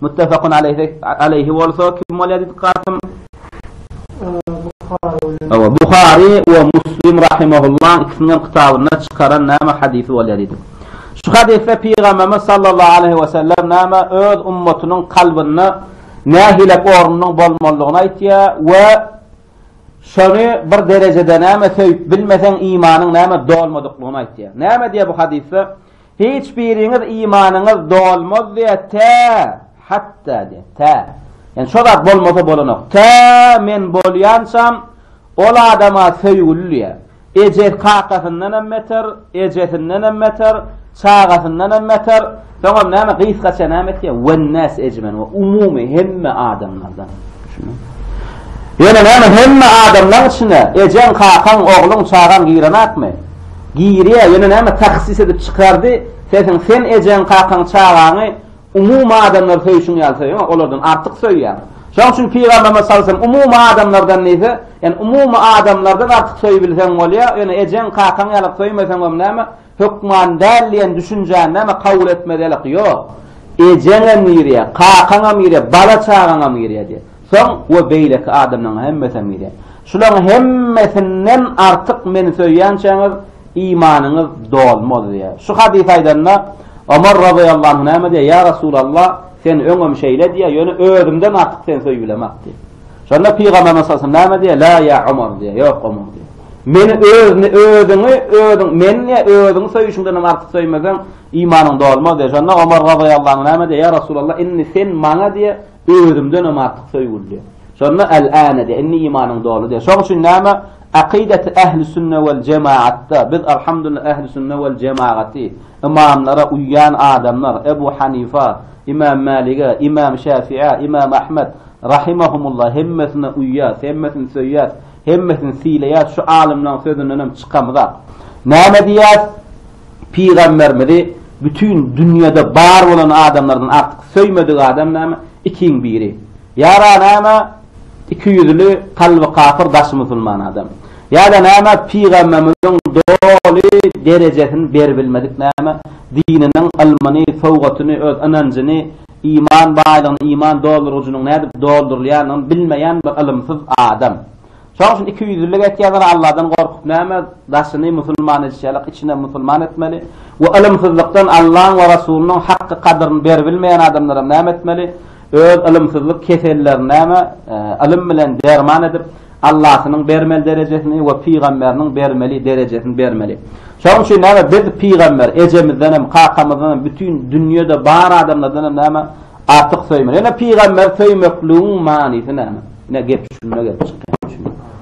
Muttafakun aleýhi aleýhi bolsa kim bolýar diýdik Kasym? Buhary bilen. Awa Buhary we Muslim rahimehullah ikisiniň kitabynda çykaran näme hadysy bolýar diýdik. Şu hadysda Pygamberimiz sallallahu aleyhi we sellem näme öz ummatynyň kalbynda nähili ornunyň bolmalydygyny aýtýar we şony bir derejede näme söýüp bilmeseň imanyň näme dolmadyklygyny aýtýar. Näme diýär bu hadysda? Hiç biriňiz imanyňyz dolmaz diýýär, tä, hatda diýýär, tä. Ýani şo zat bolmasa bolanok. Tä men bolýançam ol adama söýgüli diýýär. Eje kakasyndan hem beter, ejesinden hem beter, çagasyndan hem beter. Soňam näme gysgaça näme etýär? Wennas ejmen we umumy hemme adamlardan. Düşüniň. Ýöne näme hemme adamlaň içine ejeň, kakaň, ogluň, çagaň girenakmy? Girýä ýöne näme tahsis edip çykardy sesiň sen ejeň kakaň çagaňy umumy adamlary söýşüň ýaly söýeňä olardan artyk söýýäň şoň üçin pygamberimiz salsam umumy adamlardan diýse ýani umumy adamlardan artyk söýbilseň bolýa ýöne ejeň kakaň ýalak söýmeseňem näme hökman däl diýen düşünjäni näme kabul etmelilik ýok ejeňem girýä kakaňam girýä bala çagaňam girýä diýe. Soň we beýleki adamlaryň hemmesem gide. Şularyň hemmesinden artyk meni söýýänçäňiz, imanyňyz dolmaz diýýär. Şu hadysy aýdanda, Omar razyýallahu anh näme diýýär? Ýa Resulallah, sen öňem şeýle diýýär, ýöne özümden artyk seni söýübilemok diýýär. Şonda Pygamberimiz sallallahu aleyhi ve sellem näme diýýär? La ýa Omar diýýär. Ýok Omar diýýär. Meni özüni, özüňi, özüň, meni ýa özüňi söýüşiňden hem artyk söýmeseň, imanyň dolmaz diýýär. Şonda Omar razyýallahu anh näme diýýär? Ýa Resulallah, indi sen maňa diýýär, Özümdenem artyk söýgüli. Şonda el-ane diýýär, indi imanyň doly diýýär. Şoň üçin näme? Akydaty ähli-sünne wal jemaatda, biz alhamdulillah ähli-sünne wal jemagaty, ymamlara uýýan adamlar, Ebu Hanifa, Imam Mälige, Imam Şäfiä, Imam Ahmet, rahimehumullah, hemmesine uýýas, hemmesini söýýäs, hemmesini sylaýas, şu alymlaň sözündenem çykamzak. Näme diýýäs? Pygamberimizi bütin dünýede bar bolan adamlardan artyk söýmedik adam näme? Ikiň biri. Ýa-da näme? Iki ýüzli, kalby kapyr, daşy musulman adam. Ýa-da näme? Pygamberimiziň doly derejesini beribilmedik näme? Dininiň ylmyny, sowgatyny, öz ynanjyny, iman baýlygyny, iman doldurgyjynyň nädip doldurylýanyny bilmeýän bir ylymsyz adam. Şoň üçin ikiýüzlülik etýänler Alladan gorkup näme, daşyny musulman edişi ýalyk içinem musulman etmeli we ylymsyzlykdan Allaň we Rasulynyň hakky gadyryny beribilmeýän adamlaram näme etmeli, öz ylymsyzlyk kesellerini näme, ylym bilen derman edip, Allasynyň bermeli derejesini we pygamberiniň bermeli derejesini bermeli. Şoň üçin näme, biz pygamber ejemizdenem, kakamyzdanam, bütin dünýede bar adamlardanam näme, artyk söýmeli. Ýöne pygamberi söýmekligiň manysy näme? Ine gep şunda gelip çykýar.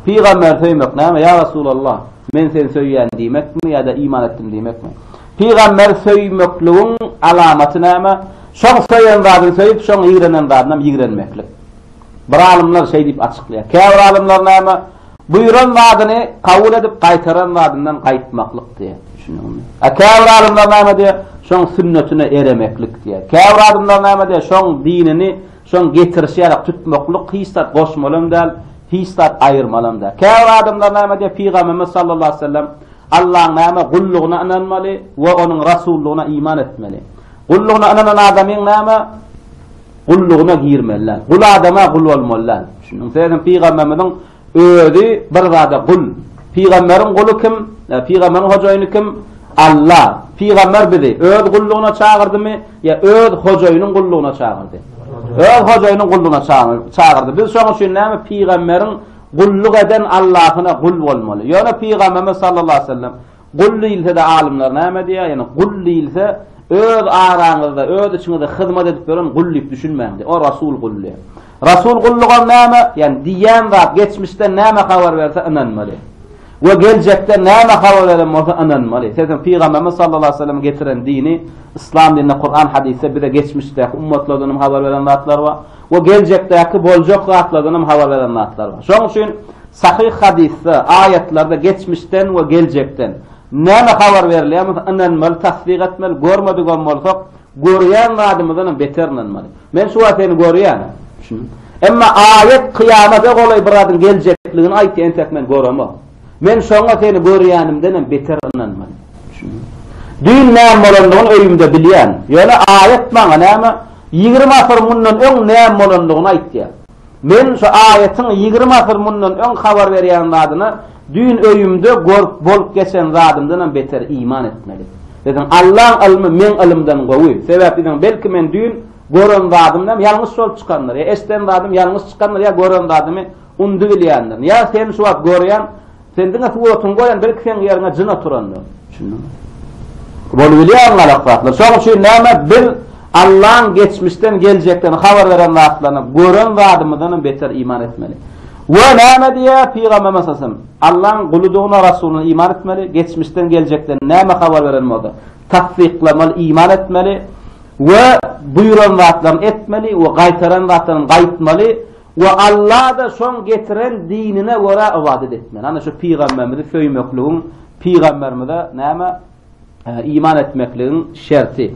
Pygamberi söýmek näme? Ýa Resulallah, men seni söýýän diýmekmi ýa-da iman etdim diýmekmi? Pygamberi söýmekligiň alamaty näme? Şoň söýen zadyny söýüp, şoň ýigrenen zadynam ýigrenmeklik. Bir alymlar şeý diýip açyklaýar. Käbir alymlar näme? Buýran zadyny kabul edip, gaýtaran zadyndan gaýtmaklyk diýýär. Düşündiňizmi? A käbir alymlar näme diýýär? Şoň sünnetine eremeklik diýýär. Käbir alymlar näme diýýär? Şoň dinini Şoň getirişi ýarak tutmaklyk hiç zat goşmalam däl, hiç zat aýyrmalam däl. Käbir adamlar näme diýýär, Pygamberimiz sallallahu aleyhi ve sellem, Allaň näme, gullugyna ynanmaly we onuň rasullygyna iman etmeli. Gullugyna ynanan adamyň näme, gullugyna girmeli däl. Gul adama gul bolmaly däl. Düşündiňizmi? Pygamberimiziň Özi bir zada gul. Pygamberiň guly kim? Pygamberiň hojaýyny kim? Alla. Pygamber bizi öz gullugyna çagyrdymy ýa öz hojaýynyň gullugyna çagyrdy? Öz hojaýynyň gullugyna çagyrdy. Biz şoň üçin näme pygamberiň gulluk eden Allahyna gul bolmaly. Ýöne pygamberimiz sallallahu aleyhi ve sellem Gul diýilse-de alymlar näme diýýär? Ýani gul diýilse öz araňyzda, öz içiňizde hyzmat edip ýören gul diýip düşünmäň diýýär. O Rasul gul diýýär. Rasul gullugam näme? Ýani diýýän zat geçmişden näme habar berse ynanmaly. We geljekden näme habar beren bolsa ynanmaly. Sebäbi Pygamberimiz sallallahu aleyhi ve sellem getiren dini, Islam dininde Kur'an hadisde bize geçmişdäki ummatlardan habar beren zatlar bar. we geljekdäki boljak zatlardan hem habar beren zatlar bar. Şonuň üçin sahyh hadysda, aýatlarda geçmişden we geljekden näme habar berilýärmese, ynanmaly, tassyk etmeli, görmedik hem bolsak, görýän zadymyzdan hem beter ynanmaly. Men şu wagt seni görýän. Emma aýat kyýamata golaý bir zadyň geljekdigini aýtýar, entek men göremok. Men şoňa seni görýänimdenem beter ynanman. Düýn näme bolandygyny öýümde bilýän. Ýöne aýat maňa näme, ýigrimi asyr mundan öň näme bolandygyny aýtýar. Men şu aýatyň ýigrimi asyr mundan öň habar berýän zadyna düýn öýümde görüp bolup geçen zadymdanam beter iman etmeli. Dedim, Allaň ylmy meň ylymdan gowy. Sebäp dedim, belki men düýn gören zadymdam ýalňyş bolup çykandyr. Ýa eşden zadym ýalňyş çykandyr ýa gören zadymy Undy bilýändir. Nyýaz seni şu wagt görýän. Sen diňe suratyňy goýan, belki seň ýeriňe jyn oturandyr. Düşündiňmi? Bolubilýär galak zatlar. Şonuň üçin näme biz Allaň geçmişden geljekden habar beren zatlaryna gören zadymyzdan hem beter iman etmeli. We näme diýýär pygamber meselem? Allaň guludygyna rasulyna iman etmeli, geçmişden geljekden näme habar beren bolsa, tassyklamaly, iman etmeli we buýran zatlaryny etmeli we gaýtaran zatlaryny gaýtmaly. We Allada şoň getiren dinine görä ybadat etmeli. Ana şu pygamberimizi söýmekligiň pygamberimize näme iman etmekligiň şerti.